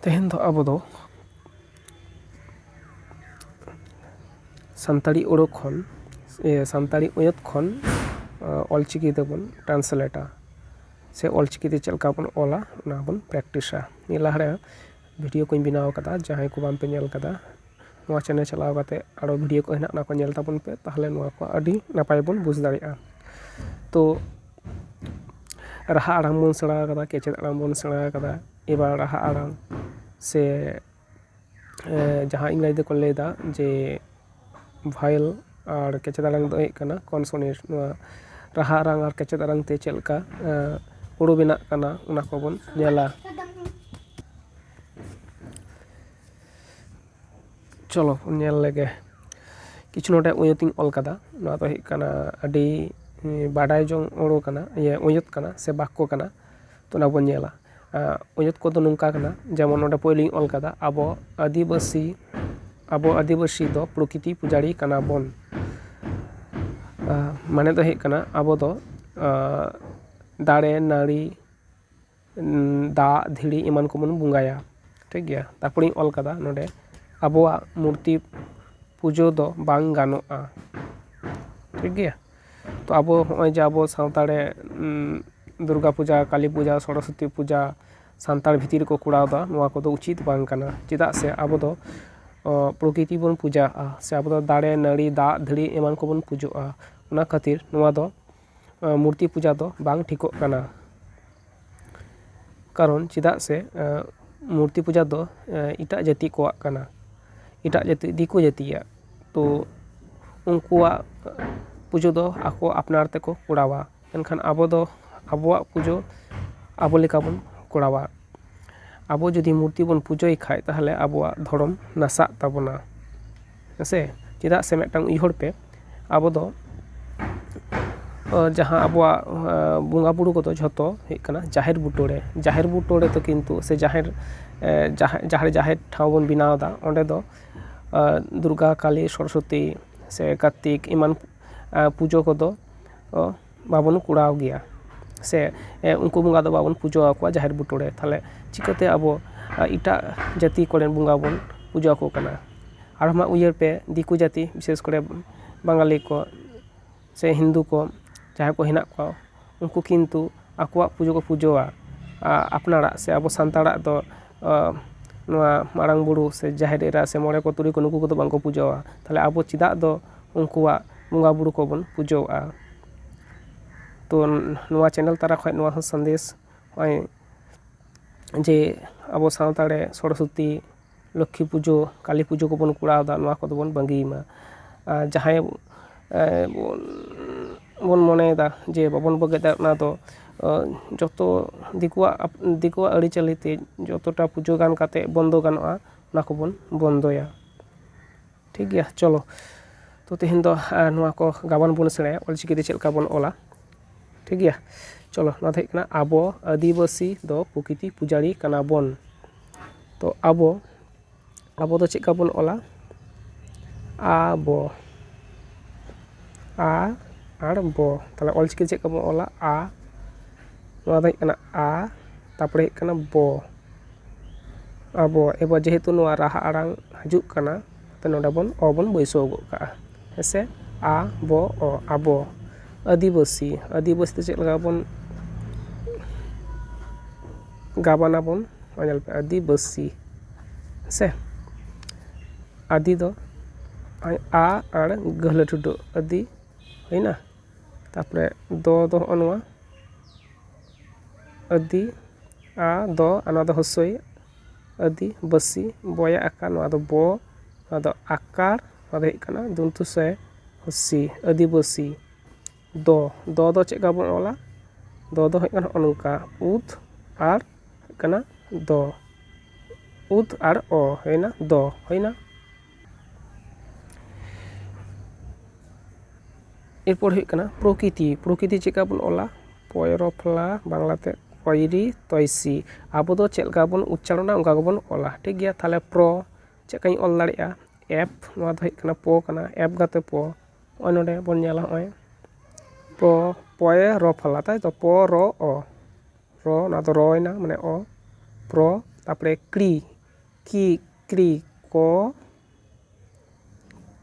ᱛᱮᱦᱮᱧ ᱫᱚ ᱟᱵᱚ ᱫᱚ ᱥᱟᱱᱛᱟᱲᱤ ᱟᱹᱲᱟᱹ ᱠᱷᱚᱱ ᱥᱟᱱᱛᱟᱲᱤ ᱟᱹᱭᱟᱹᱛ ᱠᱷᱚᱱ ᱚᱞ ᱪᱤᱠᱤ ᱛᱮᱵᱚᱱ ᱴᱨᱟᱱᱥᱞᱮᱴᱟ ᱥᱮ ᱚᱞ ᱪᱤᱠᱤ ᱛᱮ ᱪᱮᱫ ᱞᱮᱠᱟ ᱵᱚᱱ ᱚᱞᱟ ᱚᱱᱟ ᱵᱚᱱ ᱯᱨᱮᱠᱴᱤᱥᱟ ᱱᱤᱭᱟᱹ ᱞᱟᱦᱟᱨᱮ ᱵᱷᱤᱰᱭᱳ ᱠᱚᱧ ᱵᱮᱱᱟᱣ ᱠᱟᱫᱟ ᱡᱟᱦᱟᱸᱭ ᱠᱚ ᱵᱟᱝᱯᱮ ᱧᱮᱞ ᱠᱟᱫᱟ ᱱᱚᱣᱟ ᱪᱮᱱᱮᱞ ᱪᱟᱞᱟᱣ ᱠᱟᱛᱮᱫ ᱟᱨᱚ ᱵᱷᱤᱰᱭᱳ ᱠᱚ ᱦᱮᱱᱟᱜᱼᱟ ᱚᱱᱟ ᱠᱚ ᱧᱮᱞ ᱛᱟᱵᱚᱱ ᱯᱮ ᱛᱟᱦᱚᱞᱮ ᱱᱚᱣᱟ ᱠᱚ ᱟᱹᱰᱤ ᱱᱟᱯᱟᱭ ᱵᱚᱱ ᱵᱩᱡᱽ ᱫᱟᱲᱮᱭᱟᱜᱼᱟ ᱛᱚ ᱨᱟᱦᱟ ᱟᱲᱟᱝ ᱵᱚᱱ ᱥᱮᱬᱟ ᱟᱠᱟᱫᱟ ᱠᱮᱪᱮᱫ ᱟᱲᱟᱝ ᱵᱚᱱ ᱥᱮᱬᱟ ᱟᱠᱟᱫᱟ ᱮᱵᱟᱨ ᱨᱟᱦᱟ ᱟᱲᱟᱝ ᱥᱮ ᱡᱟᱦᱟᱸ ᱤᱝᱨᱮᱡᱤ ᱛᱮᱠᱚ ᱞᱟᱹᱭ ᱮᱫᱟ ᱡᱮ ᱵᱷᱟᱭᱮᱞ ᱟᱨ ᱠᱮᱪᱮᱫ ᱟᱲᱟᱝ ᱫᱚ ᱦᱩᱭᱩᱜ ᱠᱟᱱᱟ ᱠᱚᱱᱥᱚᱱᱮᱴ ᱱᱚᱣᱟ ᱨᱟᱦᱟ ᱟᱲᱟᱝ ᱟᱨ ᱠᱮᱪᱮᱫ ᱟᱲᱟᱝ ᱛᱮ ᱪᱮᱫ ᱞᱮᱠᱟ ᱦᱩᱲᱩ ᱵᱮᱱᱟᱜ ᱠᱟᱱᱟ ᱚᱱᱟ ᱠᱚᱵᱚᱱ ᱧᱮᱞᱟ ᱪᱚᱞᱚ ᱵᱚᱱ ᱧᱮᱞ ᱞᱮᱜᱮ ᱠᱤᱪᱷᱩ ᱱᱚᱰᱮ ᱟᱹᱭᱟᱹᱛ ᱤᱧ ᱚᱞ ᱠᱟᱫᱟ ᱱᱚᱣᱟ ᱫᱚ ᱦᱩᱭᱩᱜ ᱠᱟᱱᱟ ᱟᱹᱰᱤ ᱵᱟᱰᱟᱭ ᱡᱚᱝ ᱟᱹᱲᱟᱹ ᱠᱟᱱᱟ ᱤᱭᱟᱹ ᱟᱹᱭᱟᱹᱛ ᱠᱟᱱᱟ ᱥᱮ ᱵᱟᱠᱠᱚ ᱠᱟᱱᱟ ᱛᱚ ᱚᱱᱟ ᱵᱚᱱ ᱧᱮᱞᱟ ᱟᱹᱭᱟᱹᱛ ᱠᱚᱫᱚ ᱱᱚᱝᱠᱟ ᱠᱟᱱᱟ ᱡᱮᱢᱚᱱ ᱱᱚᱰᱮ ᱯᱳᱭᱞᱳᱧ ᱚᱞ ᱠᱟᱫᱟ ᱟᱵᱚ ᱟᱹᱫᱤᱵᱟᱹᱥᱤ ᱟᱵᱚ ᱟᱹᱫᱤᱵᱟᱹᱥᱤ ᱫᱚ ᱯᱨᱚᱠᱤᱛᱤ ᱯᱩᱡᱟᱨᱤ ᱠᱟᱱᱟ ᱵᱚᱱ ᱢᱟᱱᱮ ᱫᱚ ᱦᱩᱭᱩᱜ ᱠᱟᱱᱟ ᱟᱵᱚ ᱫᱚ ᱫᱟᱨᱮ ᱱᱟᱹᱲᱤ ᱫᱟᱜ ᱫᱷᱤᱨᱤ ᱮᱢᱟᱱ ᱠᱚᱵᱚᱱ ᱵᱚᱸᱜᱟᱭᱟ ᱴᱷᱤᱠ ᱜᱮᱭᱟ ᱛᱟᱨᱯᱚᱨᱮᱧ ᱚᱞ ᱠᱟᱫᱟ ᱱᱚᱰᱮ ᱟᱵᱚᱣᱟᱜ ᱢᱩᱨᱛᱤ ᱯᱩᱡᱟᱹ ᱫᱚ ᱵᱟᱝ ᱜᱟᱱᱚᱜᱼᱟ ᱴᱷᱤᱠ ᱜᱮᱭᱟ ᱛᱚ ᱟᱵᱚ ᱱᱚᱜᱼᱚᱭ ᱡᱮ ᱟᱵᱚ ᱥᱟᱶᱛᱟ ᱨᱮ ᱫᱩᱨᱜᱟ ᱯᱩᱡᱟ ᱠᱟᱞᱤ ᱯᱩᱡᱟ ᱥᱚᱨᱚᱥᱚᱛᱤ ᱯᱩᱡᱟ ᱥᱟᱱᱛᱟᱲ ᱵᱷᱤᱛᱤᱨ ᱨᱮᱠᱚ ᱠᱚᱨᱟᱣ ᱮᱫᱟ ᱱᱚᱣᱟ ᱠᱚᱫᱚ ᱩᱪᱤᱛ ᱵᱟᱝ ᱠᱟᱱᱟ ᱪᱮᱫᱟᱜ ᱥᱮ ᱟᱵᱚ ᱫᱚ ᱯᱨᱚᱠᱤᱛᱤ ᱵᱚᱱ ᱯᱩᱡᱟᱣᱟᱜᱼᱟ ᱥᱮ ᱟᱵᱚ ᱫᱚ ᱫᱟᱨᱮ ᱱᱟᱹᱲᱤ ᱫᱟᱜ ᱫᱷᱤᱨᱤ ᱮᱢᱟᱱ ᱠᱚᱵᱚᱱ ᱯᱩᱡᱟᱹᱣᱟᱜᱼᱟ ᱚᱱᱟ ᱠᱷᱟᱹᱛᱤᱨ ᱱᱚᱣᱟ ᱫᱚ ᱢᱩᱨᱛᱤ ᱯᱩᱡᱟ ᱫᱚ ᱵᱟᱝ ᱴᱷᱤᱠᱚᱜ ᱠᱟᱱᱟ ᱠᱟᱨᱚᱱ ᱪᱮᱫᱟᱜ ᱥᱮ ᱢᱩᱨᱛᱤ ᱯᱩᱡᱟ ᱫᱚ ᱮᱴᱟᱜ ᱡᱟᱹᱛᱤ ᱠᱚᱣᱟᱜ ᱠᱟᱱᱟ ᱮᱴᱟᱜ ᱡᱟᱹᱛᱤ ᱫᱤᱠᱩ ᱡᱟᱹᱛᱤᱭᱟᱜ ᱛᱚ ᱩᱱᱠᱩᱣᱟᱜ ᱯᱩᱡᱟᱹ ᱫᱚ ᱟᱠᱚ ᱟᱯᱱᱟᱨ ᱛᱮᱠᱚ ᱠᱚᱨᱟᱣᱟ ᱢᱮᱱᱠᱷᱟᱱ ᱟᱵᱚ ᱫᱚ ᱟᱵᱚᱣᱟᱜ ᱯᱩᱡᱟᱹ ᱟᱵᱚ ᱞᱮᱠᱟ ᱵᱚᱱ ᱠᱚᱨᱟᱣᱟ ᱟᱵᱚ ᱡᱩᱫᱤ ᱢᱩᱨᱛᱤ ᱵᱚᱱ ᱯᱩᱡᱟᱹᱭ ᱠᱷᱟᱱ ᱛᱟᱦᱚᱞᱮ ᱟᱵᱚᱣᱟᱜ ᱫᱷᱚᱨᱚᱢ ᱱᱟᱥᱟᱜ ᱛᱟᱵᱚᱱᱟ ᱦᱮᱸᱥᱮ ᱪᱮᱫᱟᱜ ᱥᱮ ᱢᱤᱫᱴᱟᱝ ᱩᱭᱦᱟᱹᱨ ᱯᱮ ᱟᱵᱚ ᱫᱚ ᱡᱟᱦᱟᱸ ᱟᱵᱚᱣᱟᱜ ᱵᱚᱸᱜᱟ ᱵᱳᱨᱳ ᱠᱚᱫᱚ ᱡᱷᱚᱛᱚ ᱦᱩᱭᱩᱜ ᱠᱟᱱᱟ ᱡᱟᱦᱮᱨ ᱵᱩᱴᱟᱹ ᱨᱮ ᱡᱟᱦᱮᱨ ᱵᱩᱴᱟᱹ ᱨᱮᱫᱚ ᱠᱤᱱᱛᱩ ᱥᱮ ᱡᱟᱦᱮᱨ ᱡᱟᱦᱟᱸ ᱡᱟᱦᱟᱸ ᱨᱮ ᱡᱟᱦᱮᱨ ᱴᱷᱟᱶ ᱵᱚᱱ ᱵᱮᱱᱟᱣ ᱮᱫᱟ ᱚᱸᱰᱮ ᱫᱚ ᱫᱩᱨᱜᱟ ᱠᱟᱞᱤ ᱥᱚᱨᱚᱥᱚᱛᱤ ᱥᱮ ᱠᱟᱨᱛᱤᱠ ᱮᱢᱟᱱ ᱯᱩᱡᱟᱹ ᱠᱚᱫᱚ ᱵᱟᱵᱚᱱ ᱠᱚᱨᱟᱣ ᱜᱮᱭᱟ ᱥᱮ ᱩᱱᱠᱩ ᱵᱚᱸᱜᱟ ᱫᱚ ᱵᱟᱵᱚᱱ ᱯᱩᱡᱟᱹ ᱟᱠᱚᱣᱟ ᱡᱟᱦᱮᱨ ᱵᱩᱴᱟᱹ ᱨᱮ ᱛᱟᱦᱞᱮ ᱪᱤᱠᱟᱹᱛᱮ ᱟᱵᱚ ᱮᱴᱟᱜ ᱡᱟᱹᱛᱤ ᱠᱚᱨᱮᱱ ᱵᱚᱸᱜᱟ ᱵᱚᱱ ᱯᱩᱡᱟᱹ ᱟᱠᱚ ᱠᱟᱱᱟ ᱟᱨ ᱢᱟ ᱩᱭᱦᱟᱹᱨ ᱯᱮ ᱫᱤᱠᱩ ᱡᱟᱹᱛᱤ ᱵᱤᱥᱮᱥ ᱠᱚᱨᱮ ᱵᱟᱝᱜᱟᱞᱤ ᱠᱚ ᱥᱮ ᱦᱤᱱᱫᱩ ᱠᱚ ᱡᱟᱦᱟᱸᱭ ᱠᱚ ᱦᱮᱱᱟᱜ ᱠᱚᱣᱟ ᱩᱱᱠᱩ ᱠᱤᱱᱛᱩ ᱟᱠᱚᱣᱟᱜ ᱯᱩᱡᱟᱹ ᱠᱚ ᱯᱩᱡᱟᱹᱣᱟ ᱟᱯᱱᱟᱨᱟᱜ ᱥᱮ ᱟᱵᱚ ᱥᱟᱱᱛᱟᱲᱟᱜ ᱫᱚ ᱱᱚᱣᱟ ᱢᱟᱨᱟᱝ ᱵᱩᱨᱩ ᱥᱮ ᱡᱟᱦᱮᱨ ᱮᱨᱟ ᱥᱮ ᱢᱚᱬᱮ ᱠᱚ ᱛᱩᱨᱩᱭ ᱠᱚ ᱱᱩᱠᱩ ᱠᱚᱫᱚ ᱵᱟᱝᱠᱚ ᱯᱩᱡᱟᱹᱣᱟ ᱛᱟᱦᱞᱮ ᱟᱵᱚ ᱪᱮᱫᱟᱜ ᱫᱚ ᱩᱱᱠᱩᱣᱟᱜ ᱵᱚᱸᱜᱟ ᱵᱩᱨᱩ ᱠᱚᱵᱚᱱ ᱯᱩᱡᱟᱹᱣᱟᱜᱼᱟ ᱛᱚ ᱱᱚᱣᱟ ᱪᱮᱱᱮᱞ ᱛᱟᱞᱟ ᱠᱷᱚᱱ ᱱᱚᱣᱟ ᱦᱚᱸ ᱥᱟᱸᱫᱮᱥ ᱱᱚᱜᱼᱚᱭ ᱡᱮ ᱟᱵᱚ ᱥᱟᱶᱛᱟ ᱨᱮ ᱥᱚᱨᱚᱥᱚᱛᱤ ᱞᱚᱠᱠᱷᱤ ᱯᱩᱡᱟᱹ ᱠᱟᱞᱤ ᱯᱩᱡᱟᱹ ᱠᱚᱵᱚᱱ ᱠᱚᱨᱟᱣ ᱮᱫᱟ ᱱᱚᱣᱟ ᱠᱚᱫᱚ ᱵᱚᱱ ᱵᱟᱹᱜᱤᱭ ᱢᱟ ᱟᱨ ᱡᱟᱦᱟᱸᱭ ᱵᱚᱱ ᱢᱚᱱᱮᱭᱮᱫᱟ ᱡᱮ ᱵᱟᱵᱚᱱ ᱵᱟᱹᱜᱤᱭᱟ ᱚᱱᱟ ᱫᱚ ᱡᱚᱛᱚ ᱫᱤᱠᱩᱣᱟᱜ ᱫᱤᱠᱩᱣᱟᱜ ᱟᱹᱨᱤᱪᱟᱹᱞᱤ ᱛᱮ ᱡᱚᱛᱚᱴᱟ ᱯᱩᱡᱟᱹ ᱜᱟᱱ ᱠᱟᱛᱮᱫ ᱵᱚᱱᱫᱚ ᱜᱟᱱᱚᱜᱼᱟ ᱚᱱᱟ ᱠᱚᱵᱚᱱ ᱵᱚᱱᱫᱚᱭᱟ ᱴᱷᱤᱠ ᱜᱮᱭᱟ ᱪᱚᱞᱚ ᱛᱚ ᱛᱮᱦᱮᱧ ᱫᱚ ᱱᱚᱣᱟ ᱠᱚ ᱜᱟᱵᱟᱱ ᱵᱚᱱ ᱥᱮᱬᱟᱭᱟ ᱚᱞ ᱪᱤᱠᱤ ᱛᱮ ᱪᱮᱫ ᱞᱮᱠᱟ ᱵᱚᱱ ᱚᱞᱟ ᱴᱷᱤᱠ ᱜᱮᱭᱟ ᱪᱚᱞᱚ ᱱᱚᱣᱟ ᱫᱚ ᱦᱩᱭᱩᱜ ᱠᱟᱱᱟ ᱟᱵᱚ ᱟᱹᱫᱤᱵᱟᱹᱥᱤ ᱫᱚ ᱯᱨᱚᱠᱤᱛᱤ ᱯᱩᱡᱟᱨᱤ ᱠᱟᱱᱟ ᱵᱚᱱ ᱛᱚ ᱟᱵᱚ ᱟᱵᱚ ᱫᱚ ᱪᱮᱫ ᱞᱮᱠᱟ ᱵᱚᱱ ᱚᱞᱟ ᱟ ᱵᱚ ᱟ ᱟᱨ ᱵᱚ ᱛᱟᱦᱚᱞᱮ ᱚᱞ ᱪᱤᱠᱤ ᱛᱮ ᱪᱮᱫ ᱞᱮᱠᱟ ᱵᱚᱱ ᱚᱞᱟ ᱟ ᱱᱚᱣᱟ ᱫᱚ ᱦᱩᱭᱩᱜ ᱠᱟᱱᱟ ᱟ ᱛᱟᱨᱯᱚᱨᱮ ᱦᱩᱭᱩᱜ ᱠᱟᱱᱟ ᱵᱚ ᱟᱵᱚ ᱮᱵᱟᱨ ᱡᱮᱦᱮᱛᱩ ᱱᱚᱣᱟ ᱨᱟᱦᱟ ᱟᱲᱟᱝ ᱦᱤᱡᱩᱜ ᱠᱟᱱᱟ ᱛᱚ ᱱᱚᱰᱮ ᱵᱚᱱ ᱚ ᱵᱚᱱ ᱵᱟᱹᱭᱥᱟᱹᱣ ᱜᱚᱫ ᱠᱟᱜᱼᱟ ᱦᱮᱸ ᱥᱮ ᱟ ᱵᱚ ᱚ ᱟᱵᱚ ᱟᱹᱫᱤᱵᱟᱹᱥᱤ ᱟᱹᱫᱤᱵᱟᱹᱥᱤ ᱛᱮ ᱪᱮᱫ ᱞᱮᱠᱟ ᱵᱚᱱ ᱜᱟᱵᱟᱱ ᱟᱵᱚᱱ ᱱᱚᱜᱼᱚᱭ ᱧᱮᱞ ᱯᱮ ᱟᱹᱫᱤᱵᱟᱹᱥᱤ ᱦᱮᱸ ᱥᱮ ᱟᱹᱫᱤ ᱫᱚ ᱟᱭ ᱟ ᱟᱲ ᱜᱟᱹᱦᱞᱟᱹ ᱴᱷᱩᱰᱟᱹᱜ ᱟᱹᱫᱤ ᱦᱩᱭᱮᱱᱟ ᱛᱟᱨᱯᱚᱨᱮ ᱫᱚ ᱫᱚ ᱦᱚᱸᱜᱼᱚ ᱱᱚᱣᱟ ᱟᱹᱫᱤ ᱟ ᱫᱚ ᱟᱨ ᱱᱚᱣᱟ ᱫᱚ ᱦᱚᱥᱳᱭ ᱟᱹᱫᱤ ᱵᱟᱹᱥᱤ ᱵᱚᱭᱮ ᱟᱠᱟ ᱱᱚᱣᱟ ᱫᱚ ᱵᱚ ᱱᱚᱣᱟ ᱫᱚ ᱟᱠᱟᱨ ᱱᱚᱣᱟ ᱫᱚ ᱦᱩᱭᱩᱜ ᱠᱟᱱᱟ ᱫᱚᱱᱛᱩ ᱥᱮ ᱦᱚᱥᱤ ᱟᱹᱫᱤᱵᱟᱹᱥᱤ ᱫᱚ ᱫᱚ ᱫᱚ ᱪᱮᱫ ᱞᱮᱠᱟ ᱵᱚᱱ ᱚᱞᱟ ᱫᱚ ᱫᱚ ᱦᱩᱭᱩᱜ ᱠᱟᱱᱟ ᱦᱚᱸᱜᱼᱚ ᱱᱚᱝᱠᱟ ᱩᱫ ᱟᱨ ᱦᱩᱭᱩᱜ ᱠᱟᱱᱟ ᱫᱚ ᱩᱫ ᱟᱨ ᱚ ᱦᱩᱭᱮᱱᱟ ᱫᱚ ᱦᱩᱭᱮᱱᱟ ᱮᱨᱯᱚᱨ ᱦᱩᱭᱩᱜ ᱠᱟᱱᱟ ᱯᱨᱚᱠᱤᱛᱤ ᱯᱨᱚᱠᱤᱛᱤ ᱪᱮᱫ ᱞᱮᱠᱟ ᱵᱚᱱ ᱚᱞᱟ ᱯᱚᱭᱨᱚᱯᱷᱞᱟ ᱵᱟᱝᱞᱟ ᱛᱮ ᱠᱚᱭᱨᱤ ᱛᱚᱭᱥᱤ ᱟᱵᱚ ᱫᱚ ᱪᱮᱫ ᱞᱮᱠᱟ ᱵᱚᱱ ᱩᱪᱪᱟᱨᱚᱱᱟ ᱚᱱᱠᱟ ᱜᱮᱵᱚᱱ ᱚᱞᱟ ᱴᱷᱤᱠ ᱜᱮᱭᱟ ᱛᱟᱦᱚᱞᱮ ᱯᱨᱚ ᱪᱮᱫ ᱞᱮᱠᱟᱧ ᱚᱞ ᱫᱟᱲᱮᱭᱟᱜᱼᱟ ᱮᱯᱷ ᱱᱚᱣᱟ ᱫᱚ ᱦᱩᱭᱩᱜ ᱠᱟᱱᱟ ᱯᱚ ᱠᱟᱱᱟ ᱮᱯᱷ ᱜᱟᱛᱮ ᱯᱚ ᱱᱚᱜᱼᱚᱭ ᱱᱚᱰᱮ ᱵᱚᱱ ᱧᱮᱞᱟ ᱱᱚᱜᱼᱚᱭ ᱯᱚ ᱯᱚᱭᱨᱚᱯᱷᱞᱟ ᱛᱟᱭ ᱛᱚ ᱯᱚ ᱨᱚ ᱚ ᱨᱚ ᱚᱱᱟ ᱫᱚ ᱨᱚᱭᱮᱱᱟ ᱢᱟᱱᱮ ᱚ ᱯᱨᱚ ᱛᱟᱨᱯᱚᱨᱮ ᱠᱨᱤ ᱠᱤᱠᱨᱤ ᱠᱚ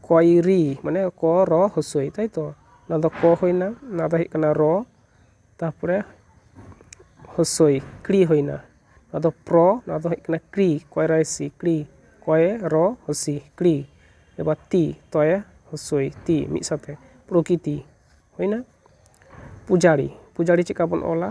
ᱠᱚᱭᱨᱤ ᱢᱟᱱᱮ ᱠᱚ ᱨᱚ ᱦᱚᱥᱳᱭ ᱛᱟᱭᱛᱚ ᱚᱱᱟ ᱫᱚ ᱠᱚ ᱦᱩᱭᱱᱟ ᱚᱱᱟ ᱫᱚ ᱦᱩᱭᱩᱜ ᱠᱟᱱᱟ ᱨᱚ ᱛᱟᱨᱯᱚᱨᱮ ᱦᱚᱥᱳᱭ ᱠᱨᱤ ᱦᱩᱭᱱᱟ ᱱᱚᱣᱟ ᱫᱚ ᱯᱨᱚ ᱱᱚᱣᱟ ᱫᱚ ᱦᱩᱭᱩᱜ ᱠᱟᱱᱟ ᱠᱨᱤ ᱠᱚᱭᱨᱟᱭ ᱥᱤ ᱠᱨᱤ ᱠᱚᱭᱮ ᱨᱚ ᱦᱚᱥᱤ ᱠᱨᱤ ᱮᱵᱟᱨ ᱛᱤ ᱛᱚᱭᱮ ᱦᱚᱥᱳᱭ ᱛᱤ ᱢᱤᱫ ᱥᱟᱶᱛᱮ ᱯᱨᱚᱠᱤᱛᱤ ᱦᱩᱭᱱᱟ ᱯᱩᱡᱟᱨᱤ ᱯᱩᱡᱟᱨᱤ ᱪᱮᱫᱠᱟ ᱵᱚᱱ ᱚᱞᱟ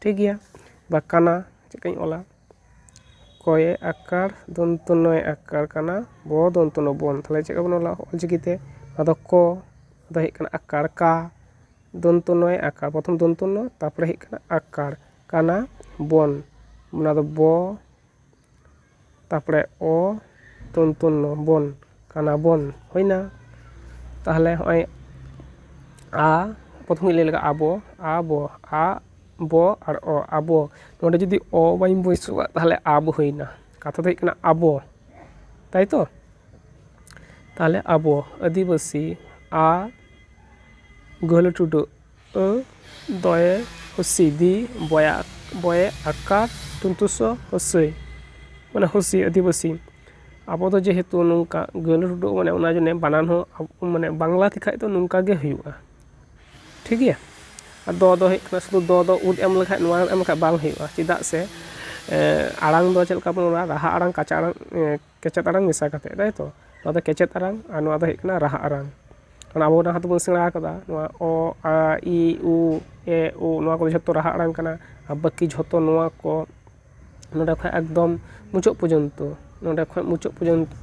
ᱴᱷᱤᱠ ᱜᱮᱭᱟ ᱵᱟ ᱠᱟᱱᱟ ᱪᱮᱫ ᱞᱮᱠᱟᱧ ᱚᱞᱟ ᱠᱚᱭᱮ ᱟᱠᱟᱨ ᱫᱚᱱᱛᱚ ᱱᱚ ᱭᱮ ᱟᱠᱟᱨ ᱠᱟᱱᱟ ᱵᱚ ᱫᱚᱱᱛᱚ ᱱᱚ ᱵᱚᱱ ᱛᱟᱦᱞᱮ ᱪᱮᱫ ᱞᱮᱠᱟ ᱵᱚᱱ ᱚᱞᱟ ᱚᱞ ᱪᱤᱠᱤ ᱛᱮ ᱟᱫᱚ ᱠᱚ ᱫᱚ ᱦᱩᱭᱩᱜ ᱠᱟᱱᱟ ᱟᱠᱟᱨ ᱠᱟ ᱫᱚᱱᱛᱚ ᱱᱚ ᱭᱮ ᱟᱠᱟᱨ ᱯᱨᱚᱛᱷᱚᱢ ᱫᱚᱱᱛᱚ ᱱᱚ ᱛᱟᱨᱯᱚᱨᱮ ᱦᱩᱭᱩᱜ ᱠᱟᱱᱟ ᱟᱠᱟᱨ ᱠᱟᱱᱟ ᱵᱚᱱ ᱚᱱᱟ ᱫᱚ ᱵᱚ ᱛᱟᱨᱯᱚᱨᱮ ᱚ ᱛᱚᱱᱛᱩᱱᱱᱚ ᱵᱚᱱ ᱠᱟᱱᱟ ᱵᱚᱱ ᱦᱩᱭᱱᱟ ᱛᱟᱦᱚᱞᱮ ᱦᱚᱸᱜᱼᱚᱭ ᱟ ᱯᱨᱚᱛᱷᱚᱢ ᱜᱤᱧ ᱞᱟᱹᱭ ᱞᱮᱜᱮ ᱟᱵᱚ ᱟ ᱵᱚ ᱟ ᱵᱚ ᱟᱨ ᱚ ᱟᱵᱚ ᱱᱚᱸᱰᱮ ᱡᱩᱫᱤ ᱚ ᱵᱟᱹᱧ ᱵᱟᱹᱭᱥᱟᱹᱣᱟ ᱛᱟᱦᱚᱞᱮ ᱟᱵᱽ ᱦᱩᱭᱱᱟ ᱠᱟᱛᱷᱟ ᱫᱚ ᱦᱩᱭᱩᱜ ᱠᱟᱱᱟ ᱟᱵᱚ ᱛᱟᱭᱛᱚ ᱛᱟᱦᱚᱞᱮ ᱟᱵᱚ ᱟᱹᱫᱤᱵᱟᱹᱥᱤ ᱟ ᱜᱟᱹᱦᱞᱟᱹ ᱴᱩᱰᱩ ᱟᱹ ᱫᱚᱭᱮ ᱦᱩᱥᱤ ᱫᱤ ᱵᱚᱭᱟ ᱵᱚᱭᱮ ᱟᱠᱟ ᱛᱩᱱᱛᱩᱥᱚ ᱦᱩᱥᱤ ᱢᱟᱱᱮ ᱦᱩᱥᱤ ᱟᱹᱫᱤᱵᱟᱹᱥᱤ ᱟᱵᱚ ᱫᱚ ᱡᱮᱦᱮᱛᱩ ᱱᱚᱝᱠᱟ ᱜᱟᱹᱞᱟᱹ ᱰᱩᱰᱩ ᱢᱟᱱᱮ ᱚᱱᱟ ᱡᱟᱱᱮ ᱵᱟᱱᱟᱱ ᱦᱚᱸ ᱢᱟᱱᱮ ᱵᱟᱝᱞᱟ ᱛᱮᱠᱷᱟᱱ ᱫᱚ ᱱᱚᱝᱠᱟ ᱜᱮ ᱦᱩᱭᱩᱜᱼᱟ ᱴᱷᱤᱠ ᱜᱮᱭᱟ ᱟᱨ ᱫᱚ ᱫᱚ ᱦᱩᱭᱩᱜ ᱠᱟᱱᱟ ᱥᱩᱫᱩ ᱫᱚ ᱫᱚ ᱩᱫ ᱮᱢ ᱞᱮᱠᱷᱟᱱ ᱱᱚᱣᱟ ᱮᱢ ᱞᱮᱠᱷᱟᱱ ᱵᱟᱝ ᱦᱩᱭᱩᱜᱼᱟ ᱪᱮᱫᱟᱜ ᱥᱮ ᱟᱲᱟᱝ ᱫᱚ ᱪᱮᱫ ᱞᱮᱠᱟ ᱵᱚᱱ ᱨᱚᱲᱟ ᱨᱟᱦᱟ ᱟᱲᱟᱝ ᱠᱟᱸᱪᱟ ᱟᱲᱟᱝ ᱠᱮᱪᱮᱫ ᱟᱲᱟᱝ ᱢᱮᱥᱟ ᱠᱟᱛᱮᱫ ᱛᱟᱭ ᱛᱚ ᱱᱚᱣᱟ ᱫᱚ ᱠᱮᱪᱮᱫ ᱟᱲᱟᱝ ᱟᱨ ᱱᱚᱣᱟ ᱫᱚ ᱦᱩᱭᱩᱜ ᱠᱟᱱᱟ ᱨᱟᱦᱟ ᱟᱲᱟᱝ ᱚᱱᱟ ᱟᱵᱚ ᱡᱟᱦᱟᱸ ᱛᱮᱵᱚᱱ ᱥᱮᱬᱟ ᱟᱠᱟᱫᱟ ᱱᱚᱣᱟ ᱚ ᱟ ᱤ ᱩ ᱮ ᱳ ᱱᱚᱣᱟ ᱠᱚ ᱡᱷᱚᱛᱚ ᱨᱟᱦᱟ ᱟᱲᱟᱝ ᱠᱟᱱᱟ ᱟᱨ ᱵᱟᱹᱠᱤ ᱡᱷᱚᱛᱚ ᱱᱚᱣᱟ ᱠᱚ ᱱᱚᱰᱮ ᱠᱷᱚᱱ ᱮᱠᱫᱚᱢ ᱢᱩᱪᱟᱹᱫ ᱯᱚᱨᱡᱚᱱᱛᱚ ᱱᱚᱰᱮ ᱠᱷᱚᱱ ᱢᱩᱪᱟᱹᱫ ᱯᱚᱨᱡᱚᱱᱛᱚ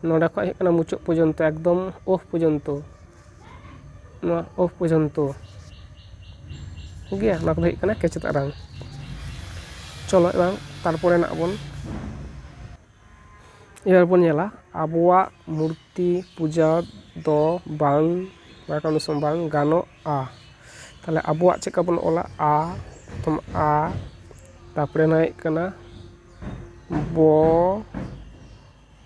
ᱱᱚᱰᱮ ᱠᱷᱚᱱ ᱦᱩᱭᱩᱜ ᱠᱟᱱᱟ ᱢᱩᱪᱟᱹᱫ ᱯᱚᱨᱡᱚᱱᱛᱚ ᱮᱠᱫᱚᱢ ᱳᱦ ᱯᱚᱨᱡᱚᱱᱛᱚ ᱱᱚᱣᱟ ᱚᱯᱷ ᱯᱚᱨᱡᱚᱱᱛᱚ ᱴᱷᱤᱠ ᱜᱮᱭᱟ ᱱᱚᱣᱟ ᱠᱚᱫᱚ ᱦᱩᱭᱩᱜ ᱠᱟᱱᱟ ᱠᱮᱪᱮᱫ ᱟᱲᱟᱝ ᱪᱚᱞᱚ ᱮᱵᱟᱨ ᱛᱟᱨᱯᱚᱨᱮ ᱱᱟᱜ ᱵᱚᱱ ᱮᱵᱟᱨ ᱵᱚᱱ ᱧᱮᱞᱟ ᱟᱵᱚᱣᱟᱜ ᱢᱩᱨᱛᱤ ᱯᱩᱡᱟ ᱫᱚ ᱵᱟᱝ ᱵᱟᱝ ᱜᱟᱱᱚᱜᱼᱟ ᱛᱟᱦᱚᱞᱮ ᱟᱵᱚᱣᱟᱜ ᱪᱮᱫ ᱞᱮᱠᱟ ᱵᱚᱱ ᱚᱞᱟ ᱟ ᱯᱨᱚᱛᱷᱚᱢ ᱟ ᱛᱟᱨᱯᱚᱨᱮ ᱱᱚᱣᱟ ᱦᱩᱭᱩᱜ ᱠᱟᱱᱟ ᱵᱚ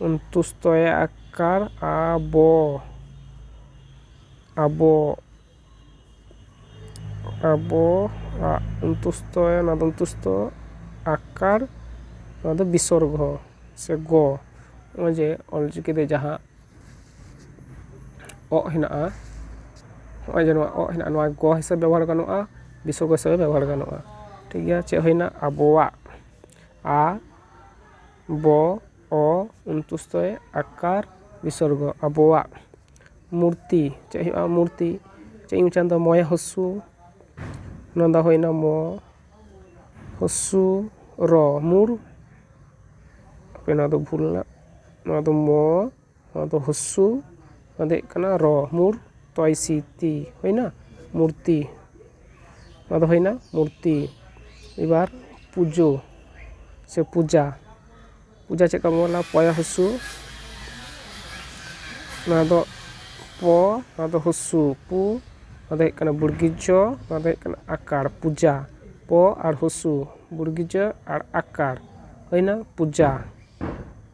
ᱩᱱᱛᱩᱥᱛᱚᱭᱮ ᱟᱠᱟᱨ ᱟᱵᱚ ᱟᱵᱚ ᱟᱵᱚᱣᱟᱜ ᱩᱱᱛᱩᱥᱛᱚᱭᱮ ᱱᱚᱣᱟ ᱫᱚ ᱩᱱᱛᱩᱥᱛᱚ ᱟᱠᱟᱨ ᱱᱚᱣᱟ ᱫᱚ ᱵᱤᱥᱚᱨᱜᱚ ᱥᱮ ᱜᱚ ᱱᱚᱜᱼᱚᱭ ᱡᱮ ᱚᱞ ᱪᱤᱠᱤ ᱨᱮ ᱡᱟᱦᱟᱸ ᱚᱜ ᱦᱮᱱᱟᱜᱼᱟ ᱱᱚᱜᱼᱚᱭ ᱡᱮ ᱱᱚᱣᱟ ᱚᱜ ᱦᱮᱱᱟᱜᱼᱟ ᱱᱚᱣᱟ ᱜᱚ ᱦᱤᱥᱟᱹᱵ ᱵᱮᱵᱚᱦᱟᱨ ᱜᱟᱱᱚᱜᱼᱟ ᱵᱤᱥᱚᱨᱜᱚ ᱦᱤᱥᱟᱹᱵ ᱵᱮᱵᱚᱦᱟᱨ ᱜᱟᱱᱚᱜᱼᱟ ᱴᱷᱤᱠ ᱜᱮᱭᱟ ᱪᱮᱫ ᱦᱩᱭᱱᱟ ᱟᱵᱚᱣᱟᱜ ᱟ ᱵᱚ ᱚ ᱚᱱᱛᱚᱥᱛᱷᱚᱭᱮ ᱟᱠᱟᱨ ᱵᱤᱥᱚᱨᱜᱚ ᱟᱵᱚᱣᱟᱜ ᱢᱩᱨᱛᱤ ᱪᱮᱫ ᱦᱩᱭᱩᱜᱼᱟ ᱢᱩᱨᱛᱤ ᱪᱮᱫ ᱤᱧ ᱢᱮᱱᱫᱟ ᱢᱚᱭᱮ ᱦᱚᱥᱥᱳ ᱱᱚᱣᱟ ᱫᱚ ᱦᱩᱭᱱᱟ ᱢᱚ ᱦᱚᱥᱥᱳ ᱨᱚ ᱢᱩᱨ ᱦᱟᱯᱮ ᱱᱚᱣᱟ ᱫᱚ ᱵᱷᱩᱞ ᱮᱱᱟ ᱱᱚᱣᱟ ᱫᱚ ᱢᱚ ᱱᱚᱣᱟ ᱫᱚ ᱦᱩᱥᱥᱩ ᱱᱚᱣᱟ ᱫᱚ ᱦᱩᱭᱩᱜ ᱠᱟᱱᱟ ᱨᱚ ᱢᱩᱨ ᱛᱚᱭ ᱥᱤ ᱛᱤ ᱦᱩᱭᱱᱟ ᱢᱩᱨᱛᱤ ᱱᱚᱣᱟ ᱫᱚ ᱦᱩᱭᱱᱟ ᱢᱩᱨᱛᱤ ᱮᱵᱟᱨ ᱯᱩᱡᱳ ᱥᱮ ᱯᱩᱡᱟ ᱯᱩᱡᱟ ᱪᱮᱫ ᱞᱮᱠᱟ ᱵᱚᱱ ᱚᱞᱟ ᱯᱚᱭᱟ ᱦᱩᱥᱥᱩ ᱱᱚᱣᱟ ᱫᱚ ᱯᱚ ᱱᱚᱣᱟ ᱫᱚ ᱦᱩᱥᱥᱩ ᱯᱩ ᱱᱚᱣᱟ ᱫᱚ ᱦᱩᱭᱩᱜ ᱠᱟᱱᱟ ᱵᱩᱲᱜᱤ ᱡᱚ ᱱᱚᱣᱟ ᱫᱚ ᱦᱩᱭᱩᱜ ᱠᱟᱱᱟ ᱟᱠᱟᱲ ᱯᱩᱡᱟ ᱯᱚ ᱟᱨ ᱦᱩᱥᱥᱩ ᱵᱩᱲᱜᱤ ᱡᱚ ᱟᱨ ᱟᱠᱟᱲ ᱦᱩᱭᱱᱟ ᱯᱩᱡᱟ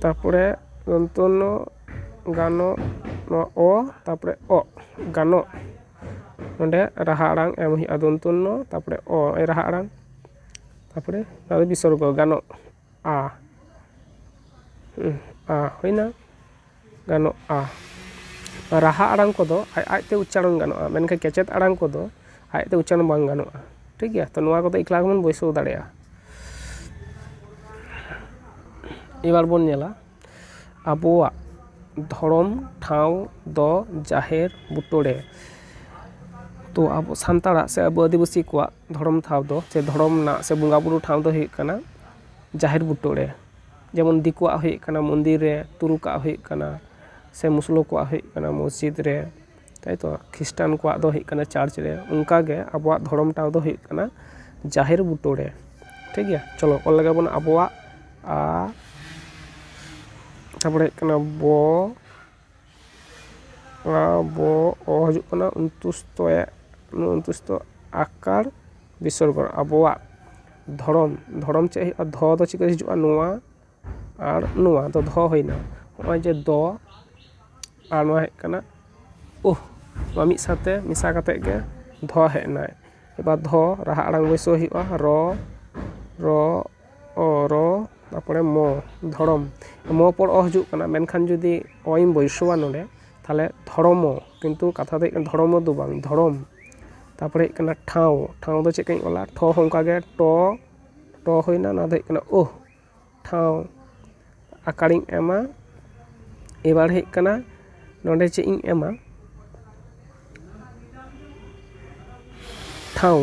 ᱛᱟᱨᱯᱚᱨᱮ ᱫᱚᱱᱛᱚᱱᱱᱚ ᱜᱟᱱᱚ ᱱᱚᱣᱟ ᱚ ᱛᱟᱨᱯᱚᱨᱮ ᱚᱜ ᱜᱟᱱᱚᱜ ᱚᱸᱰᱮ ᱨᱟᱦᱟ ᱟᱲᱟᱝ ᱮᱢ ᱦᱩᱭᱩᱜᱼᱟ ᱫᱚᱱᱛᱚᱱᱱᱚ ᱛᱟᱨᱯᱚᱨᱮ ᱚ ᱨᱟᱦᱟ ᱟᱲᱟᱝ ᱛᱟᱨᱯᱚᱨᱮ ᱵᱤᱥᱚᱨᱜᱚ ᱜᱟᱱᱚᱜᱼᱟ ᱟ ᱦᱩᱭᱱᱟ ᱜᱟᱱᱚᱜᱼᱟ᱾ ᱨᱟᱦᱟ ᱟᱲᱟᱝ ᱠᱚᱫᱚ ᱟᱡ ᱟᱡ ᱛᱮ ᱩᱪᱪᱟᱨᱚᱱ ᱜᱟᱱᱚᱜᱼᱟ, ᱢᱮᱱᱠᱷᱟᱱ ᱠᱮᱪᱮᱫ ᱟᱲᱟᱝ ᱠᱚᱫᱚ ᱟᱡ ᱛᱮ ᱩᱪᱪᱟᱨᱚᱱ ᱵᱟᱝ ᱜᱟᱱᱚᱜᱼᱟ᱾ ᱴᱷᱤᱠ ᱜᱮᱭᱟ, ᱛᱚ ᱱᱚᱣᱟ ᱠᱚᱫᱚ ᱮᱠᱞᱟ ᱜᱮᱵᱚᱱ ᱵᱟᱹᱭᱥᱟᱹᱣ ᱫᱟᱲᱮᱭᱟᱜᱼᱟ᱾ ᱮᱵᱟᱨ ᱵᱚᱱ ᱧᱮᱞᱟ ᱟᱵᱚᱣᱟᱜ ᱫᱷᱚᱨᱚᱢ ᱴᱷᱟᱶ ᱫᱚ ᱡᱟᱦᱮᱨ ᱵᱩᱴᱟᱹ ᱨᱮ᱾ ᱛᱚ ᱟᱵᱚ ᱥᱟᱱᱛᱟᱲᱟᱜ ᱥᱮ ᱟᱵᱚ ᱟᱹᱫᱤᱵᱟᱹᱥᱤ ᱠᱚᱣᱟᱜ ᱫᱷᱚᱨᱚᱢ ᱴᱷᱟᱶ ᱫᱚ ᱥᱮ ᱫᱷᱚᱨᱚᱢ ᱨᱮᱱᱟᱜ ᱥᱮ ᱵᱚᱸᱜᱟ ᱵᱩᱨᱩ ᱴᱷᱟᱶ ᱫᱚ ᱦᱩᱭᱩᱜ ᱠᱟᱱᱟ ᱡᱟᱦᱮᱨ ᱵᱩᱴᱟᱹ ᱨᱮ᱾ ᱡᱮᱢᱚᱱ ᱫᱤᱠᱩᱣᱟᱜ ᱦᱩᱭᱩᱜ ᱠᱟᱱᱟ ᱢᱚᱱᱫᱤᱨ ᱨᱮ ᱛᱩᱨᱩᱠᱟᱜ ᱦᱩᱭᱩᱜ ᱠᱟᱱᱟ ᱥᱮ ᱢᱩᱥᱞᱟᱹ ᱠᱚᱣᱟᱜ ᱦᱩᱭᱩᱜ ᱠᱟᱱᱟ ᱢᱚᱥᱡᱤᱫᱽ ᱨᱮ ᱛᱟᱭᱛᱚ ᱠᱷᱤᱥᱴᱟᱱ ᱠᱚᱣᱟᱜ ᱫᱚ ᱦᱩᱭᱩᱜ ᱠᱟᱱᱟ ᱪᱟᱨᱪ ᱨᱮ ᱚᱱᱠᱟ ᱜᱮ ᱟᱵᱚᱣᱟᱜ ᱫᱷᱚᱨᱚᱢ ᱴᱷᱟᱶ ᱫᱚ ᱦᱩᱭᱩᱜ ᱠᱟᱱᱟ ᱡᱟᱦᱮᱨ ᱵᱩᱴᱟᱹ ᱨᱮ ᱴᱷᱤᱠ ᱜᱮᱭᱟ ᱪᱚᱞᱚ ᱚᱞ ᱞᱮᱜᱮ ᱵᱚᱱ ᱟᱵᱚᱣᱟᱜ ᱟ ᱛᱟᱯᱚᱨᱮ ᱦᱩᱭᱩᱜ ᱠᱟᱱᱟ ᱵᱚ ᱚᱱᱟ ᱵᱚ ᱚ ᱦᱤᱡᱩᱜ ᱠᱟᱱᱟ ᱚᱱᱛᱩᱥᱛᱚ ᱮ ᱚᱱᱛᱩᱥᱛᱚ ᱟᱠᱟᱨ ᱵᱤᱥᱚᱨᱜᱚ ᱟᱵᱚᱣᱟᱜ ᱫᱷᱚᱨᱚᱢ ᱫᱷᱚᱨᱚᱢ ᱪᱮᱫ ᱦᱩᱭᱩᱜᱼᱟ ᱫᱷᱚ ᱫᱚ ᱪᱮᱫ ᱠᱷᱚᱱ ᱦᱤᱡᱩᱜᱼᱟ ᱱᱚᱣᱟ ᱟᱨ ᱱᱚᱣᱟ ᱫᱚ ᱫᱷᱚ ᱦᱩᱭᱱᱟ ᱱᱚᱜᱼᱚᱭ ᱡᱮ ᱫᱚ ᱟᱨ ᱱᱚᱣᱟ ᱦᱮᱡ ᱠᱟᱱᱟ ᱩᱦ ᱱᱚᱣᱟ ᱢᱤᱫ ᱥᱟᱶᱛᱮ ᱢᱮᱥᱟ ᱠᱟᱛᱮᱫ ᱜᱮ ᱫᱷᱚ ᱦᱮᱡ ᱮᱱᱟ ᱮᱵᱟᱨ ᱫᱷᱚ ᱨᱟᱦᱟ ᱟᱲᱟᱝ ᱵᱟᱹᱭᱥᱟᱹᱣ ᱦᱩᱭᱩᱜᱼᱟ ᱨᱚ ᱨᱚ ᱚ ᱨᱚ ᱛᱟᱨᱯᱚᱨᱮ ᱢᱚ ᱫᱷᱚᱲᱚᱢ ᱢᱚ ᱯᱚᱨ ᱚ ᱦᱤᱡᱩᱜ ᱠᱟᱱᱟ ᱢᱮᱱᱠᱷᱟᱱ ᱡᱩᱫᱤ ᱚ ᱤᱧ ᱵᱟᱹᱭᱥᱟᱹᱣᱟ ᱱᱚᱰᱮ ᱛᱟᱦᱚᱞᱮ ᱫᱷᱚᱲᱚᱢᱚ ᱠᱤᱱᱛᱩ ᱠᱟᱛᱷᱟ ᱫᱚ ᱦᱩᱭᱩᱜ ᱠᱟᱱᱟ ᱫᱷᱚᱲᱚᱢᱚ ᱫᱚ ᱵᱟᱝ ᱫᱷᱚᱲᱚᱢ ᱛᱟᱨᱯᱚᱨᱮ ᱦᱩᱭᱩᱜ ᱠᱟᱱᱟ ᱴᱷᱟᱶ ᱴᱷᱟᱶ ᱫᱚ ᱪᱮᱫ ᱞᱮᱠᱟᱧ ᱚᱞᱟ ᱴᱷᱚ ᱦᱚᱸ ᱚᱱᱠᱟᱜᱮ ᱴᱚ ᱴᱚ ᱦᱩᱭᱱᱟ ᱱᱚᱣᱟ ᱫᱚ ᱦᱩᱭᱩᱜ ᱠᱟᱱᱟ ᱳᱦ ᱴᱷᱟᱶ ᱟᱠᱟᱲᱤᱧ ᱮᱢᱟ ᱮᱵᱟᱨ ᱦᱩᱭᱩᱜ ᱠᱟᱱᱟ ᱱᱚᱸᱰᱮ ᱪᱮᱫ ᱤᱧ ᱮᱢᱟ ᱴᱷᱟᱶ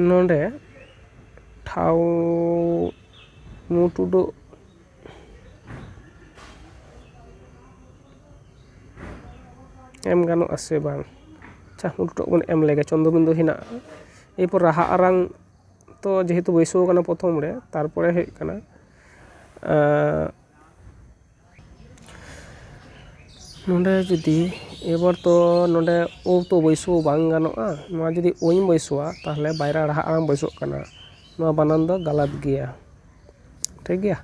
ᱱᱚᱸᱰᱮ ᱴᱷᱟᱶ ᱢᱩ ᱴᱩᱰᱩ ᱮᱢ ᱜᱟᱱᱚᱜ ᱟᱥᱮ ᱵᱟᱝ ᱟᱪᱪᱷᱟ ᱢᱩ ᱴᱩᱰᱩ ᱵᱚᱱ ᱮᱢ ᱞᱮᱜᱮ ᱪᱚᱱᱫᱨᱚ ᱵᱤᱱᱫᱩ ᱦᱮᱱᱟᱜᱼᱟ ᱮᱨᱯᱚᱨ ᱨᱟᱦᱟ ᱟᱲᱟᱝ ᱛᱚ ᱡᱮᱦᱮᱛᱩ ᱵᱟᱹᱭᱥᱟᱹᱣ ᱠᱟᱱᱟ ᱯᱨᱚᱛᱷᱚᱢ ᱨᱮ ᱛᱟᱨᱯᱚᱨᱮ ᱦᱩᱭᱩᱜ ᱠᱟᱱᱟ ᱱᱚᱸᱰᱮ ᱡᱩᱫᱤ ᱮᱵᱟᱨ ᱛᱚ ᱱᱚᱸᱰᱮ ᱳ ᱛᱚ ᱵᱟᱹᱭᱥᱟᱹᱣ ᱵᱟᱝ ᱜᱟᱱᱚᱜᱼᱟ ᱱᱚᱣᱟ ᱡᱩᱫᱤ ᱳ ᱤᱧ ᱵᱟᱹᱭᱥᱟᱹᱣᱟ ᱛᱟᱦᱚᱞᱮ ᱵᱟᱭᱨᱟ ᱨᱟᱦᱟ ᱟᱲᱟᱝ ᱵᱟᱹᱭᱥᱟᱹᱜ ᱠᱟᱱᱟ ᱱᱚᱣᱟ ᱵᱟᱱᱟᱢ ᱫᱚ ᱜᱟᱞᱟᱛ ᱜᱮᱭᱟ ᱴᱷᱤᱠᱜᱮᱭᱟ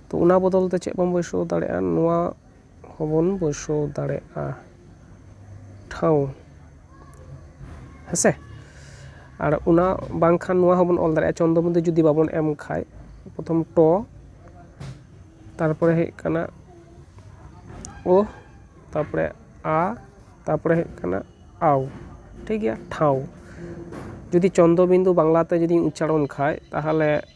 ᱛᱚ ᱚᱱᱟ ᱵᱚᱫᱚᱞ ᱛᱮ ᱪᱮᱫ ᱵᱚᱱ ᱵᱟᱹᱭᱥᱟᱹᱣ ᱫᱟᱲᱮᱭᱟᱜᱼᱟ ᱱᱚᱣᱟ ᱦᱚᱸᱵᱚᱱ ᱵᱟᱹᱭᱥᱟᱹᱣ ᱫᱟᱲᱮᱭᱟᱜᱼᱟ ᱴᱷᱟᱶ ᱦᱮᱸᱥᱮ ᱟᱨ ᱚᱱᱟ ᱵᱟᱝᱠᱷᱟᱱ ᱱᱚᱣᱟ ᱦᱚᱸᱵᱚᱱ ᱚᱞ ᱫᱟᱲᱮᱭᱟᱜᱼᱟ ᱪᱚᱱᱫᱚ ᱵᱤᱱᱫᱩ ᱡᱩᱫᱤ ᱵᱟᱵᱚᱱ ᱮᱢ ᱠᱷᱟᱱ ᱯᱨᱚᱛᱷᱚᱢ ᱴᱚ ᱛᱟᱨᱯᱚᱨᱮ ᱦᱩᱭᱩᱜ ᱠᱟᱱᱟ ᱳ ᱛᱟᱨᱯᱚᱨᱮ ᱟ ᱛᱟᱨᱯᱚᱨᱮ ᱦᱩᱭᱩᱜ ᱠᱟᱱᱟ ᱟᱣ ᱴᱷᱤᱠ ᱜᱮᱭᱟ ᱴᱷᱟᱶ ᱡᱩᱫᱤ ᱪᱚᱱᱫᱚ ᱵᱤᱱᱫᱩ ᱵᱟᱝᱞᱟᱛᱮ ᱡᱩᱫᱤᱧ ᱩᱪᱪᱟᱨᱚᱱ ᱠᱷᱟᱱ ᱛᱟᱦᱚᱞᱮ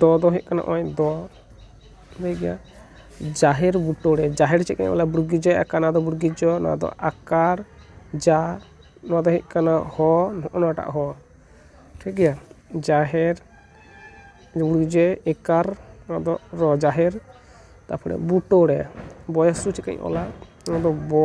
ᱫᱚ ᱫᱚ ᱦᱩᱭᱩᱜ ᱠᱟᱱᱟ ᱱᱚᱜᱼᱚᱭ ᱫᱚ ᱞᱟᱹᱭ ᱜᱮᱭᱟ ᱡᱟᱦᱮᱨ ᱵᱩᱴᱟᱹ ᱨᱮ ᱡᱟᱦᱮᱨ ᱪᱮᱫ ᱠᱟᱱᱟ ᱵᱚᱞᱮ ᱵᱨᱤᱜᱤ ᱡᱚ ᱟᱠᱟᱨ ᱱᱚᱣᱟ ᱫᱚ ᱵᱨᱤᱜᱤ ᱡᱚ ᱱᱚᱣᱟ ᱫᱚ ᱟᱠᱟᱨ ᱡᱟ ᱱᱚᱣᱟ ᱫᱚ ᱦᱩᱭᱩᱜ ᱠᱟᱱᱟ ᱦᱚ ᱱᱚᱜᱼᱚ ᱱᱚᱣᱟᱴᱟᱜ ᱦᱚ ᱴᱷᱤᱠ ᱜᱮᱭᱟ ᱡᱟᱦᱮᱨ ᱵᱨᱤᱜᱤ ᱡᱚ ᱮᱠᱟᱨ ᱱᱚᱣᱟ ᱫᱚ ᱨᱚ ᱡᱟᱦᱮᱨ ᱛᱟᱨᱯᱚᱨᱮ ᱵᱩᱴᱟᱹ ᱨᱮ ᱵᱚᱭᱮᱥ ᱫᱚ ᱪᱮᱫ ᱠᱟᱹᱧ ᱚᱞᱟ ᱱᱚᱣᱟ ᱫᱚ ᱵᱚ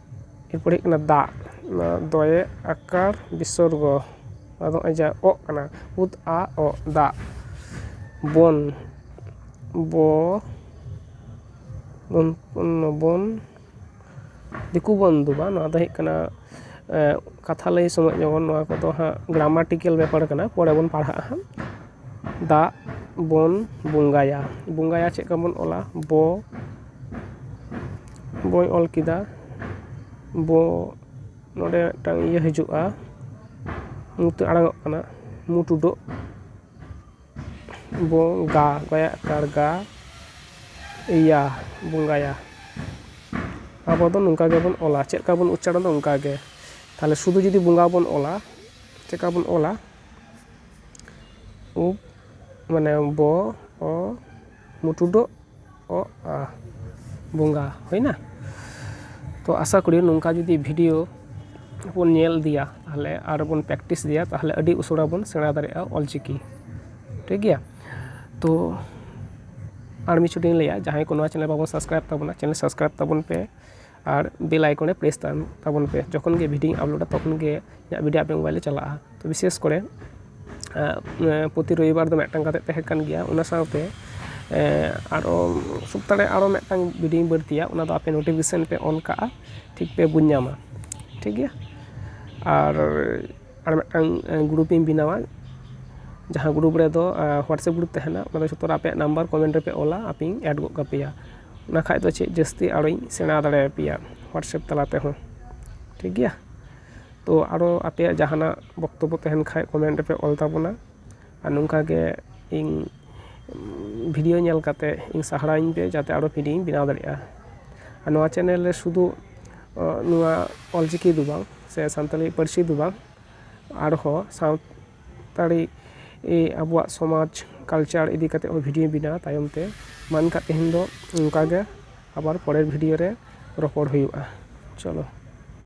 ᱮᱨᱯᱚᱨᱮ ᱦᱩᱭᱩᱜ ᱠᱟᱱᱟ ᱫᱟᱜ ᱱᱚᱣᱟ ᱫᱚᱭᱮ ᱟᱠᱟᱨ ᱵᱤᱥᱚᱨᱜᱚ ᱟᱫᱚ ᱱᱚᱜᱼᱚᱭ ᱡᱟᱦᱟᱸ ᱚᱜ ᱠᱟᱱᱟ ᱩᱫ ᱟ ᱚ ᱫᱟᱜ ᱵᱚᱱ ᱵᱚ ᱵᱚᱱ ᱵᱚᱱ ᱫᱤᱠᱩ ᱵᱚᱱᱫᱷᱩ ᱵᱟᱝ ᱱᱚᱣᱟ ᱫᱚ ᱦᱩᱭᱩᱜ ᱠᱟᱱᱟ ᱠᱟᱛᱷᱟ ᱞᱟᱹᱭ ᱥᱚᱢᱚᱭ ᱡᱮᱢᱚᱱ ᱱᱚᱣᱟ ᱠᱚᱫᱚ ᱦᱟᱸᱜ ᱜᱨᱟᱢᱟᱨᱴᱤᱠᱮᱞ ᱵᱮᱯᱟᱨ ᱠᱟᱱᱟ ᱯᱚᱨᱮ ᱵᱚᱱ ᱯᱟᱲᱦᱟᱜᱼᱟ ᱦᱟᱸᱜ ᱫᱟᱜ ᱵᱚᱱ ᱵᱚᱸᱜᱟᱭᱟ ᱵᱚᱸᱜᱟᱭᱟ ᱪᱮᱫ ᱞᱮᱠᱟ ᱵᱚᱱ ᱚᱞᱟ ᱵᱚ ᱵᱚᱭ ᱚᱞ ᱠᱮᱫᱟ ᱵᱚ ᱱᱚᱸᱰᱮ ᱢᱤᱫᱴᱟᱝ ᱤᱭᱟᱹ ᱦᱤᱡᱩᱜᱼᱟ ᱧᱩᱛᱟᱹᱛ ᱟᱲᱟᱝᱚᱜ ᱠᱟᱱᱟ ᱢᱩ ᱴᱩᱰᱟᱹᱜ ᱵᱚ ᱜᱟ ᱜᱟᱭᱟᱜ ᱠᱟᱬ ᱜᱟ ᱮᱭᱟ ᱵᱚᱸᱜᱟᱭᱟ ᱟᱵᱚ ᱫᱚ ᱱᱚᱝᱠᱟ ᱜᱮᱵᱚᱱ ᱚᱞᱟ ᱪᱮᱫ ᱞᱮᱠᱟ ᱵᱚᱱ ᱩᱪᱪᱟᱨᱚᱱᱟ ᱚᱱᱠᱟ ᱜᱮ ᱛᱟᱦᱚᱞᱮ ᱥᱩᱫᱩ ᱡᱩᱫᱤ ᱵᱚᱸᱜᱟ ᱵᱚᱱ ᱚᱞᱟ ᱪᱮᱫ ᱞᱮᱠᱟ ᱵᱚᱱ ᱚᱞᱟ ᱩᱵ ᱢᱟᱱᱮ ᱵᱚ ᱚ ᱢᱩ ᱴᱩᱰᱟᱹᱜ ᱚᱜ ᱟ ᱵᱚᱸᱜᱟ ᱦᱩᱭᱱᱟ ᱛᱚ ᱟᱥᱟ ᱠᱚᱨᱤ ᱱᱚᱝᱠᱟ ᱡᱩᱫᱤ ᱵᱷᱤᱰᱭᱳ ᱵᱚᱱ ᱧᱮᱞ ᱤᱫᱤᱭᱟ ᱛᱟᱦᱚᱞᱮ ᱟᱨ ᱵᱚᱱ ᱯᱨᱮᱠᱴᱤᱥ ᱤᱫᱤᱭᱟ ᱛᱟᱦᱚᱞᱮ ᱟᱹᱰᱤ ᱩᱥᱟᱹᱨᱟ ᱵᱚᱱ ᱥᱮᱬᱟ ᱫᱟᱲᱮᱭᱟᱜᱼᱟ ᱚᱞ ᱪᱤᱠᱤ ᱴᱷᱤᱠ ᱜᱮᱭᱟ ᱛᱚ ᱟᱨ ᱢᱤᱫ ᱪᱷᱚᱴ ᱤᱧ ᱞᱟᱹᱭᱟ ᱡᱟᱦᱟᱸᱭ ᱠᱚ ᱱᱚᱣᱟ ᱪᱮᱱᱮᱞ ᱵᱟᱵᱚᱱ ᱥᱟᱵᱥᱠᱨᱟᱭᱤᱵᱽ ᱛᱟᱵᱚᱱᱟ ᱪᱮᱱᱮᱞ ᱥᱟᱵᱥᱠᱨᱟᱭᱤᱵᱽ ᱛᱟᱵᱚᱱ ᱯᱮ ᱟᱨ ᱵᱮᱞ ᱟᱭᱠᱚᱱ ᱨᱮ ᱯᱨᱮᱥ ᱛᱟᱵᱚᱱ ᱛᱟᱵᱚᱱ ᱯᱮ ᱡᱚᱠᱷᱚᱱ ᱜᱮ ᱵᱷᱤᱰᱭᱳᱧ ᱟᱯᱞᱳᱰᱟ ᱛᱚᱠᱷᱚᱱ ᱜᱮ ᱤᱧᱟᱹᱜ ᱵᱷᱤᱰᱭᱳ ᱟᱯᱮᱭᱟᱜ ᱢᱳᱵᱟᱭᱤᱞ ᱨᱮ ᱪᱟᱞᱟᱜᱼᱟ ᱛᱚ ᱵᱤᱥᱮᱥ ᱠᱚᱨᱮ ᱯᱨᱚᱛᱤ ᱨᱚᱵᱤᱵᱟᱨ ᱫᱚ ᱢᱤᱫᱴᱟᱝ ᱠᱟᱛᱮᱫ ᱛᱟᱦᱮᱸ ᱠᱟᱱ ᱜᱮᱭᱟ ᱚᱱᱟ ᱥᱟᱶᱛᱮ ᱟᱨᱚ ᱥᱚᱯᱛᱟ ᱨᱮ ᱟᱨᱚ ᱢᱤᱫᱴᱟᱝ ᱵᱷᱤᱰᱭᱳᱧ ᱵᱟᱹᱲᱛᱤᱭᱟ ᱚᱱᱟ ᱫᱚ ᱟᱯᱮ ᱱᱳᱴᱤᱯᱷᱤᱠᱮᱥᱚᱱ ᱯᱮ ᱚᱱ ᱠᱟᱜᱼᱟ ᱴᱷᱤᱠ ᱯᱮ ᱵᱩᱡᱽ ᱧᱟᱢᱟ ᱴᱷᱤᱠ ᱜᱮᱭᱟ ᱟᱨ ᱟᱨ ᱢᱤᱫᱴᱟᱝ ᱜᱨᱩᱯ ᱤᱧ ᱵᱮᱱᱟᱣᱟ ᱡᱟᱦᱟᱸ ᱜᱨᱩᱯ ᱨᱮᱫᱚ ᱦᱳᱣᱟᱴᱥᱮᱯ ᱜᱨᱩᱯ ᱛᱟᱦᱮᱱᱟ ᱚᱱᱟ ᱫᱚ ᱡᱚᱛᱚ ᱦᱚᱲ ᱟᱯᱮᱭᱟᱜ ᱱᱟᱢᱵᱟᱨ ᱠᱚᱢᱮᱱᱴ ᱨᱮᱯᱮ ᱚᱞᱟ ᱟᱯᱮᱧ ᱮᱰ ᱜᱚᱫ ᱠᱟᱯᱮᱭᱟ ᱚᱱᱟ ᱠᱷᱟᱱ ᱫᱚ ᱪᱮᱫ ᱡᱟᱹᱥᱛᱤ ᱟᱨᱚᱧ ᱥᱮᱬᱟ ᱫᱟᱲᱮ ᱟᱯᱮᱭᱟ ᱦᱳᱣᱟᱴᱥᱮᱯ ᱛᱟᱞᱟ ᱛᱮᱦᱚᱸ ᱴᱷᱤᱠ ᱜᱮᱭᱟ ᱛᱚ ᱟᱨᱚ ᱟᱯᱮᱭᱟᱜ ᱡᱟᱦᱟᱱᱟᱜ ᱵᱚᱠᱛᱚᱵᱵᱚ ᱛᱟᱦᱮᱱ ᱠᱷᱟᱱ ᱠᱚᱢᱮᱱᱴ ᱨᱮᱯᱮ ᱚᱞ ᱛᱟᱵᱚᱱᱟ ᱟᱨ ᱱᱚᱝᱠᱟ ᱜᱮ ᱤᱧ ᱵᱷᱤᱰᱤᱭᱳ ᱧᱮᱞ ᱠᱟᱛᱮ ᱤᱧ ᱥᱟᱨᱦᱟᱣᱤᱧ ᱯᱮ ᱡᱟᱛᱮ ᱟᱨᱚ ᱵᱷᱤᱰᱤᱭᱳᱧ ᱵᱮᱱᱟᱣ ᱫᱟᱲᱮᱭᱟᱜᱼᱟ ᱟᱨ ᱱᱚᱣᱟ ᱪᱮᱱᱮᱞ ᱨᱮ ᱥᱩᱫᱩ ᱱᱚᱣᱟ ᱚᱞ ᱪᱤᱠᱤ ᱫᱚ ᱵᱟᱝ ᱥᱮ ᱥᱟᱱᱛᱟᱲᱤ ᱯᱟᱹᱨᱥᱤ ᱫᱚ ᱵᱟᱝ ᱟᱨᱦᱚᱸ ᱥᱟᱱᱛᱟᱲᱤ ᱟᱵᱚᱣᱟᱜ ᱥᱚᱢᱟᱡᱽ ᱠᱟᱞᱪᱟᱨ ᱤᱫᱤ ᱠᱟᱛᱮ ᱦᱚᱸ ᱵᱷᱤᱰᱤᱭᱳᱧ ᱵᱮᱱᱟᱣᱟ ᱛᱟᱭᱚᱢ ᱛᱮ ᱢᱟ ᱮᱱᱠᱷᱟᱡ ᱛᱮᱦᱮᱧ ᱫᱚ ᱱᱚᱝᱠᱟ ᱜᱮ ᱟᱵᱟᱨ ᱯᱚᱨᱮᱨ ᱵᱷᱤᱰᱤᱭᱳ ᱨᱮ ᱨᱚᱯᱚᱲ ᱦᱩᱭᱩᱜᱼᱟ ᱪᱚᱞᱚ